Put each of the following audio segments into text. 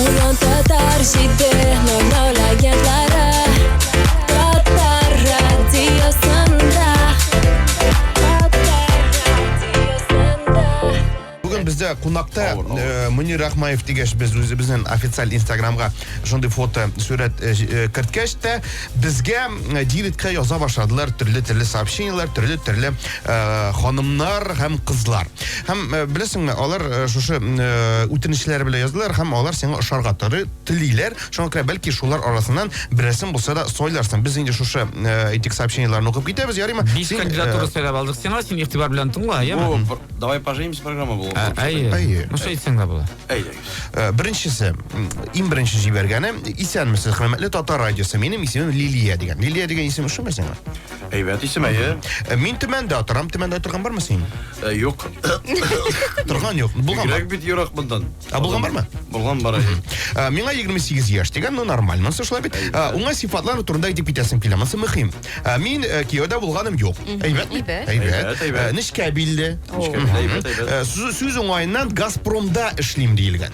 Уран татар җиде нормаль агентлары Татар радиосында Татар радиосында Бүген бездә кунакта Авыр, авыр. э, Мөнир Рахмаев дигәч без үзебезнең официаль инстаграмга шундый фото сурәт э, җ- э, керткәч тә безгә э, директка яза башладылар төрле-төрле сообщениеләр, төрле-төрле Э, ханымнар һәм кызлар. Һәм э, беләсеңме, алар э, шушы үтенечләре белән яздылар һәм алар сиңа ошарга торы телиләр. Шуңа күрә бәлки шулар арасыннан берәрсен булса да сойларсың. Без инде шушы этик сообщениеләрне укып китәбез, ярыймы? Биш кандидатура сойлап алдык сиңа, син игътибар белән тыңла, яме? Давай поженимся программа булып. Әйе. Ну что әйтсәң дә була. Әйе. Беренчесе, иң беренче җибәргәне, исәнмесез, хөрмәтле татар радиосы. Минем исемем Лилия дигән. Лилия дигән исем шуме сиңа? Әйбәт исем, әйе. Э, мин Төмәндә торам. Төмәндә торган бармы син? Э, юк. Торган юк. Булган. Бигрәк бит ерак мондан. Ә булган бармы? Булган бар. Э, миңа 28 яшь дигән, ну нормаль. Монсы шулай бит. Уңа сифатлар турында әйтеп китәсем килә. Монсы мөһим. Мин кияүдә булганым юк. Әйбәт. Әйбәт. Әйбәт. Нечкә билде. Сүз уңаеннан Газпромда эшлим диелгән.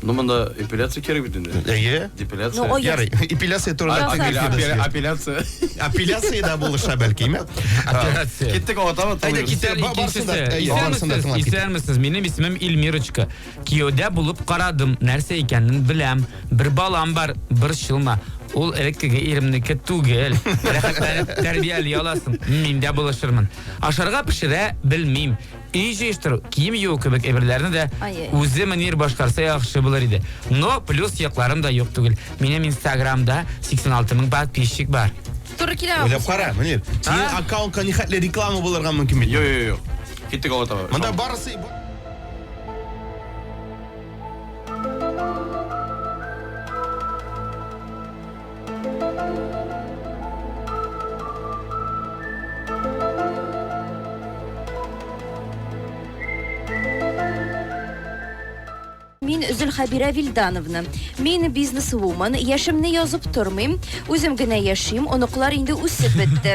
Ну, монда эпиляция кирәк бит инде. Әйе. Депиляция. Ну, ой, Ярый, эпиляция турында Яхшы. әңгәмә Апеля- эшләдек. апеля- Апеляция. Апеляция да булыша бәлки, ме? Операция. Киттек аватама. Әйдә, кит. Исән- Ба- барсын да, икенчесе. әйе, барсын да Исәнмесез, тыңлап кит. исәнмесез. Минем исемем Ильмирочка. Кияүдә булып карадым, нәрсә икәнен беләм. Бер балам бар, бер шылма. Ул элеккеге иремнеке түгел. Рәхәтләнеп тәрбияли аласың. Мин дә булышырмын. Ашарга пешерә белмим. Өй җыештыру, кием юу кебек әйберләрне дә үзе Мөнир башкарса яхшы булыр иде. Но плюс якларым да юк түгел. Минем инстаграмда 86 мең подписчик бар. Туры килә. Уйлап кара, Мөнир. Синең аккаунтка нихәтле реклама булырга мөмкин бит. Йо, йо, йо. Киттек алга таба. Монда барысы Мин Зөлхәбирә Вильдановна. Мин бизнес-вумен, яшемне язып тормыйм, үзем генә яшим, оныклар инде үсеп бетте.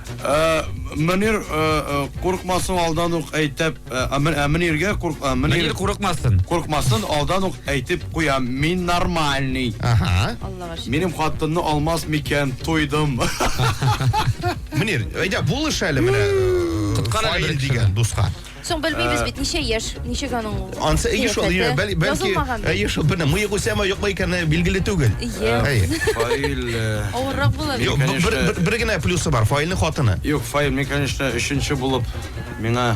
Мөнир курыкмасын алдан ук әйтеп, Мөниргә Мөнир курыкмасын. Курыкмасын алдан ук әйтеп куям, мин нормальный. Ага. Аллага шөкер. Минем хатынны алмас микән, туйдым. Мөнир, әйдә булыш әле менә. Коткар әле бер кешене. Фаил дигән дуска. Соң белмибез бит, ничә яшь, ничек аның Ансы әйе шул, кыяфәте. бәл- бәлки Язылмаган бит. әйе шул бина мыек үсәме, юкмы икәне билгеле түгел. Иә. Әйе. Фаил. э, Авыррак була бит. Юк, бу- бер, Конечно. бер, бер генә плюсы бар, Фаилнең хатыны. Юк, Фаил, мин, конечно, өченче булып миңа...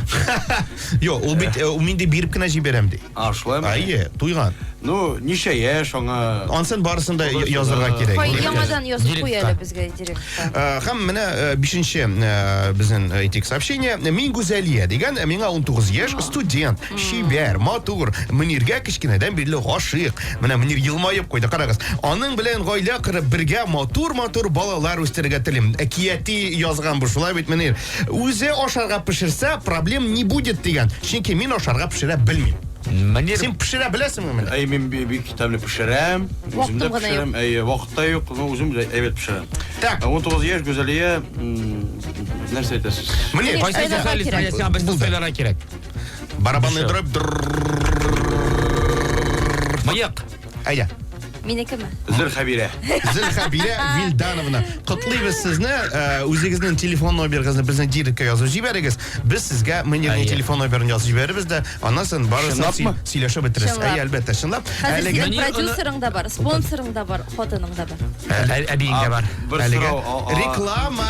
Юк, ул бит э, ул минди биреп кенә җибәрәм ди. А, шулаймы? Әйе, туйган. Ну, ничә яшь аңа... Ансын барысын да я- язырга кирәк. Фаил яңадан язып куй әле безгә. директор. Э, һәм менә э, бишенче э, безнең әйтик сообщение. Мин Гүзәлия дигән, миңа 19 яшь, студент, чибәр, матур, Мөниргә кечкенәдән бирле гашыйк. Менә Мөнир елмаеп куйды, карагыз. Аның белән гаилә корып, бергә матур-матур балалар үстерергә телим. Әкияти язган бу, шулай бит Мөнир. Үзе ашарга пешерсә, проблем не будет дигән. Чөнки мин ашарга пешерә белмим. Мөнир Син пешерә беләсеңме менә? Әй, мин би- бик тәмле пешерәм. Үзем дә пешерәм, әйе, вакыт та юк, но үзем дә әйбәт пешерәм. Так. 19 яшь Гүзәлия нәрсә әйтәсез? Менә кайсы Гүзәлия сайларга сиңа без сайларга кирәк. Барабанны дөреп. Мыек. Әйдә. Минекеме? Зөлхәбирә. Зөлхәбирә Вильдановна. Котлыйбыз сезне. Үзегезнең телефон номерыгызны безнең директкә язып җибәрегез. Без сезгә менеджерның телефон номерын язып җибәрербез дә, аннан соң барысын сөйләшеп бетерербез. Әйе, әлбәттә, чынлап. Хәзер синең продюсерың да бар, спонсорың да бар, хатының да бар. Әбиең дә бар. Реклама.